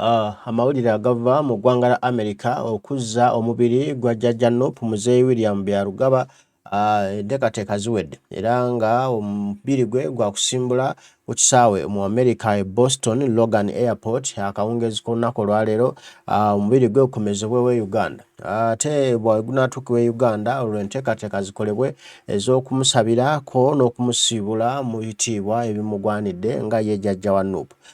Uh, amawulire agava mu ggwanga la america okuzza omubiri gwa jjajja nop muzeeyi william byarugaba ah, enteekateeka uh, ziwedde era nga omubiri gwe gwakusimbula ku kisaawe mu america e boston logan airport akawungeezi k'olunaku olwaleero ah, omubiri gwe gukomezebwewo e uganda ate bwegunatuukiwa e uganda olwo enteekateeka zikolebwe ez'okumusabirako n'okumusiibula mu bitiibwa ebimugwanidde nga ye jjajja wa nup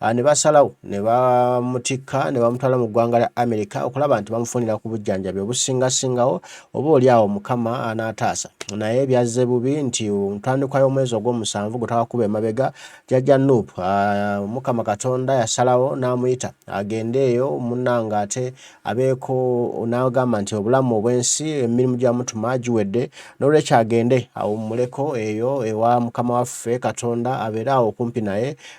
Ah, ne basalawo ne bamutikka ne bamutwala mu ggwanga lya amerika okulaba nti bamufunira ku bujjanjabi obusingasingawo oba oli awo mukama anaataasa naye byazze bubi nti ntandikwa y'omwezi ogw'omusanvu gwe twakuba emabega jajja nup ah, mukama katonda yasalawo n'amuyita agende eyo munnanga ate abeeko n'agamba nti obulamu obw'ensi emirimu gyamutuma giwedde n'olwekyo agende awummuleko eyo ewa mukama waffe katonda abeere awo okumpi naye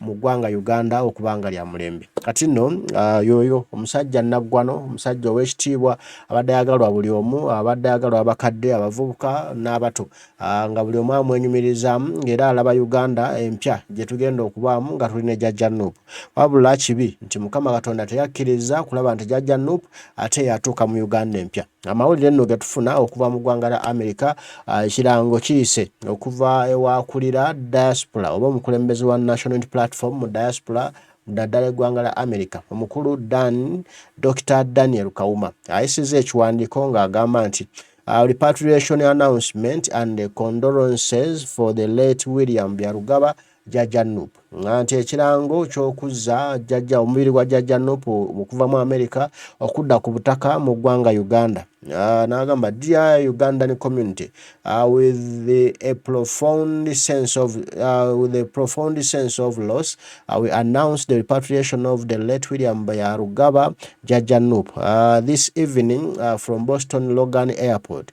mu ggwanga Uganda okuba nga lya mulembe. Kati nno yooyo omusajja nnaggwano, omusajja ow'ekitiibwa abadde ayagalwa buli omu, abadde ayagalwa abakadde, abavubuka n'abato nga buli omu amwenyumirizaamu ng'era alaba Uganda empya gye tugenda okubaamu nga tuli ne Jajja Nup. Wabula kibi nti Mukama Katonda teyakkiriza kulaba nti Jajja Nup ate yatuuka mu Uganda empya. Amawulire nno getufuna okuva mu ggwanga lya Amerika, ah, ekirango kiyise okuva ewakulira diaspora oba omukulembeze wa National Unity Platform mu diaspora mudaddala eggwanga lya Amerika omukulu Dan Dr Daniel Kawuma ayisizza ekiwandiiko ng'agamba nti uh, repatriation announcement and condolences for the late William Byarugaba Jajja Nup nga nti ekirango ky'okuzza jajja omubiri gwa Jajja Nup okuva mu Amerika okudda ku butaka mu ggwanga Uganda uh, n'agamba dear Ugandan community uh, with the, a profound sense of uh, with a profound sense of loss uh, we announce the repatriation of the late William Bayarugaba Jajja Nup uh, this evening uh, from Boston Logan Airport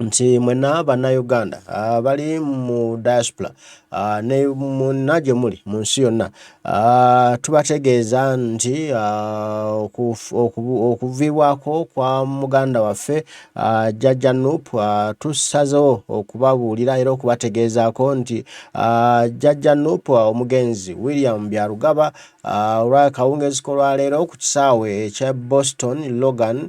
nti mwena bannayuganda ah, bali mu diaspora ah, ne munna gye muli mu nsi yonna ah, tubategeeza nti okuviibwako kwa muganda waffe jajja nup tusazewo okubabuulira era okubategeezaako nti jajja nup omugenzi william byarugaba olwakawungeezi kolwaleero ku kisaawe ekya boston logan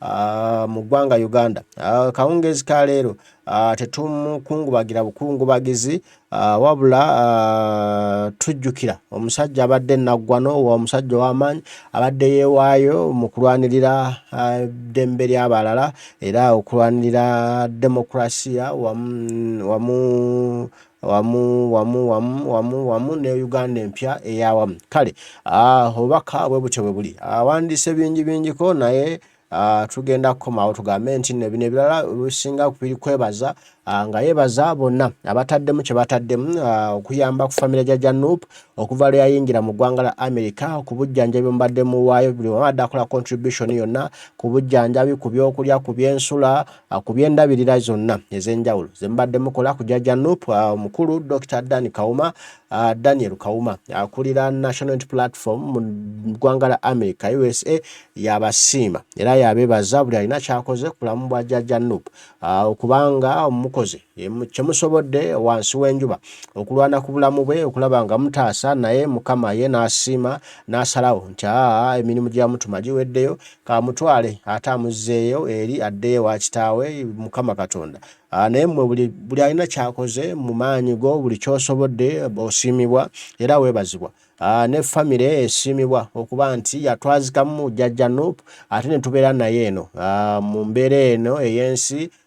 Ah, mu ggwanga Uganda ah, kawungeezi ka leero ah, tetumukungubagira bukungubagizi wabula tujjukira omusajja abadde naggwano omusajja ow'amaanyi abadde yeewaayo mu kulwanirira eddembe ly'abalala era okulwanirira demokurasiya wamu wamu wamu wamu wamu wamu ne Uganda empya eyawamu kale ah, obubaka bwe butyo bwe buli awandiise ah, bingi bingiko naye ah, tugenda kukomawo tugambe nti no bino ebirala bisinga biri kwebaza nga yebaza bonna abataddemu kye bataddemu okuyamba ku famire ja janup okuva lwe yayingira mu ggwanga la america ku bujjanjabi mubadde muwaayo buli wabadde akola contribution yonna ku bujjanjabi ku byokulya ku byensula Uh, ku byendabirira zonna ez'enjawulo ze mubadde mukola ku jajja nup uh, omukulu dr dan kawuma uh, daniel kawuma akulira national unity platform mu ggwanga la america usa yabasiima era yabeebaza buli alina kyakoze ku bulamu bwa jajja nup okubanga omukozi kyemusobodde wansi w'enjuba okulwana ku bulamu bwe okulaba nga mutaasa naye mukama ye n'asiima n'asalawo nti aa emirimu gya mutuma giweddeyo kamutwale ate amuzzeeyo eri addeyo wa kitaawe mukama katonda Ah, naye mwe buli buli alina kyakoze mu maanyi go buli kyosobodde osiimibwa era weebazibwa ah, ne famire esiimibwa okuba nti yatwazikamu jajja nup ate ne tubeera naye eno ah, mu mbeera eno ey'ensi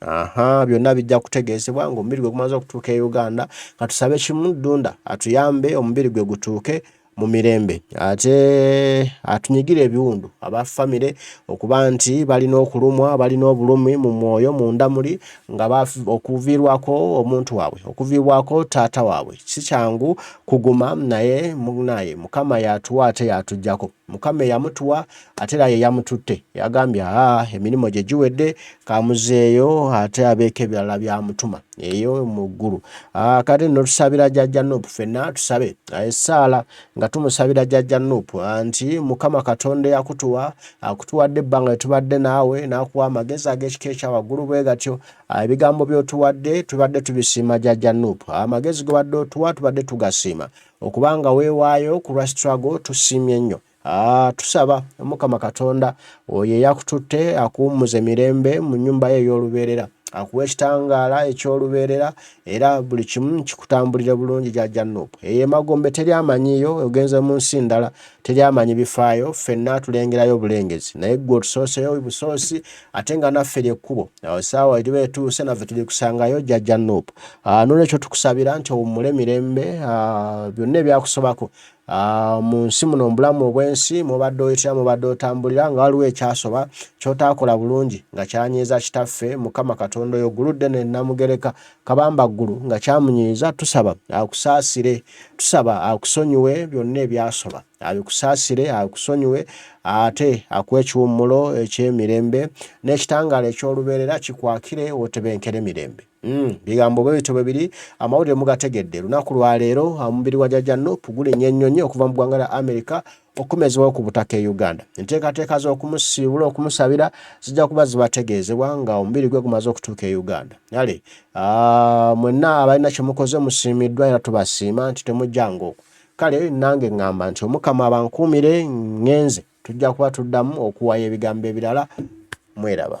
Aha, byonna bijja kutegeezebwa ng'omubiri gwe gumaze okutuuka e Uganda. Katusabe kimu Ddunda atuyambe omubiri gwe gutuuke mu mirembe ate atunyigire ebiwundu aba famire okuba nti balina okulumwa balina obulumi mu mwoyo munda muli nga okuviirwako omuntu waabwe okuviibwako taata waabwe si kyangu kuguma naye munaye mukama yatuwa ate yatugyako mukama eyamutuwa ate era yeyamututte yagambye aa emirimu gye giwedde kamuzeeyo ate abeeko ebirala byamutuma eyo mu ggulu kati nno tusabira jajja nup fenna tusabe esaala nga tumusabira jajja nup nti mukama katonda eyakutuwa akutuwadde ebbanga etubadde naawe nakuwa amagezi ag'ekika ekyawaggulu bwe gatyo ebigambo byotuwadde tubadde tubisiima jajja nup amagezi gobadde otuwa tubadde tugasiima okuba nga weewaayo ku lwa struggle tusiimye nnyo ah, tusaba omukama katonda oyo eyakututte akuwummuze mirembe mu nnyumba ye ey'olubeerera akuwa ekitangaala eky'olubeerera era buli kimu kikutambulire bulungi gyajja nup eyo emagombe teri amanyiyo ogenze mu nsi ndala teri amanyi bifaayo ffenna tulengerayo bulengezi naye gwe otusooseyo busoosi ate nga naffe lyekkubo awo saawa eriba etuuse naffe tuli kusangayo jajja nup ah, nolwekyo tukusabira nti owummule mirembe ah, byonna ebyakusobako ah, mu nsi muno mubulamu obwensi mubadde oyitira mubadde otambulira nga waliwo ekyasoba kyotaakola bulungi nga kyanyiiza kitaffe mukama katonda oyo guludde nenamugereka Kabambaggulu nga kyamunyiiza tusaba akusaasire tusaba akusonyiwe byonna ebyasoba abikusaasire akusonyiwe ate akuwa ekiwummulo ekyemirembe n'ekitangaala eky'olubeerera kikwakire otebenkere mirembe Mm, bigambo bwe bityo bwebiri amawulire mugategedde lunaku lwaleero omubiri gwa jajja nup gulinnya ennyonyi okuva mu ggwanga lya amerika okumezewo ku butaka e Uganda. Enteekateeka z'okumusiibula okumusabira zijja kuba zibategeezebwa nga omubiri gwe gumaze okutuuka e Uganda. Yale ah, mwenna abalina kye mukoze musiimiddwa era tubasiima nti temujjanga okwo. Kale nange ŋŋamba nti Omukama abankuumire ngenze. Tujja kuba tuddamu okuwaya ebigambo ebirala mweraba.